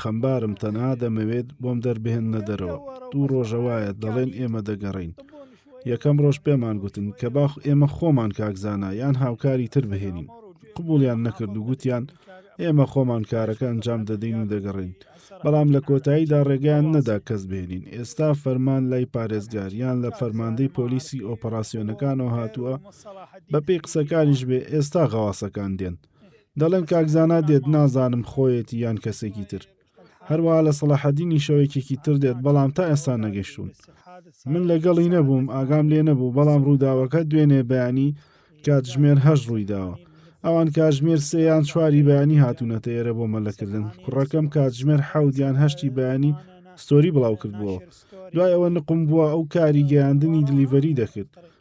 خەمبارم تەنها دەمەوێت بۆم دەربهێننە دەرەوە دوو ڕۆژە وایە دەڵێن ئێمە دەگەڕێین یەکەم ڕۆژ پێمان گوتن کە باخ ئێمە خۆمان کاکزانا یان هاوکاری تر بهێنین قبولیان نەکرد و گوتیان ئێمە خۆمان کارەکە ئەنجام دەدەین و دەگەڕین بەڵام لە کۆتاییدا ڕێگەیان نەدا کەس بێنین ئێستا فەرمان لای پارێزگاریان لە فەرماندەی پۆلیسی ئۆپەراسسیۆنەکانەوە هاتووە بەپی قسەکانیش بێ ئێستا غەواسەکان دێن دەڵێن کاک زانا دێت نازانم خۆیەتی یان کەسێکی تر هەروە لە سەڵاحەدینی شەوێکێکی تر دێت بەڵام تا ئێستا نەگەشتون من لەگەڵی نەبووم ئاگام لێ نەبوو بەڵام ڕووداوەکە دوێنێ بەیانی کاتژمێر هەش ڕوویداوە ئەوان کاژمێر سێیان چواری بەیانی هاتوونەتە ئێرە بۆ مەلەکردن کوڕەکەم کاتژمێر حەودیان هەشتی بەیانی ستۆری بڵاو کردبووە دوای ئەوە نقم بووە ئەو کاری گەیاندنی دلیڤەری دەکرد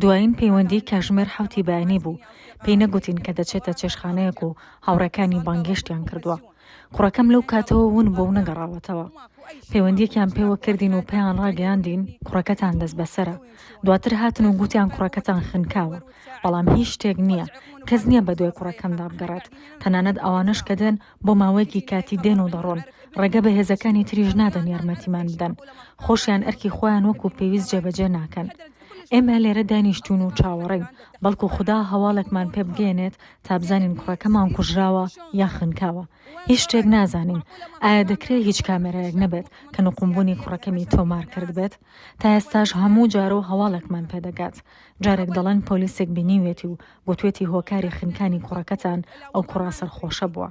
دوایین پەیوەندیی کاژمێر حەوتی بەیانی بوو، پێی نەگوتین کە دەچێتە چێشتخانەیەک و هاوڕێکانی بانگێشتیان کردووە. کوڕەکەم لەو کاتەوە ون بووە و نەگەڕاوەتەوە. پەیوەندییەکیان پێوە کردین و پێیان ڕاگەیاندین کوڕەکەتان دەستبەسەرە. دواتر هاتن و گوتیان کوڕەکەتان خنکاوە. بەڵام هیچ شتێک نییە. کەس نییە بەدوای کوڕەکەمدا بگەڕێت. تەنانەت ئەوانەش کە دێن، بۆ ماوەیەکی کاتی دێن و دەڕۆن. ڕێگە بە هێزەکانی تریش نادەن یارمەتیمان بدەن. خۆشیان ئەرکی خۆیان وەکو پێویست جێبەجێ ناکەن. ئێمە لێرە دانیشتوون و چاوەڕێین، بەڵکو خودا هەواڵێکمان پێ بگەیەنێت تا بزانین کوڕەکەمان کوژراوە یان خنکاوە. هیچ شتێک نازانین. ئایا دەکرێت هیچ کامێرایەک نەبێت کە نوقمبوونی کوڕەکەمی تۆمار کردبێت؟ تا ئێستاش هەموو جارو هەواڵێکمان پێ دەگات. جارێک دەڵێن پۆلیسێک بینیویەتی و گوتویەتی هۆکاری خنکانی کوڕەکەتان ئەو کوڕە سەرخۆشە بووە.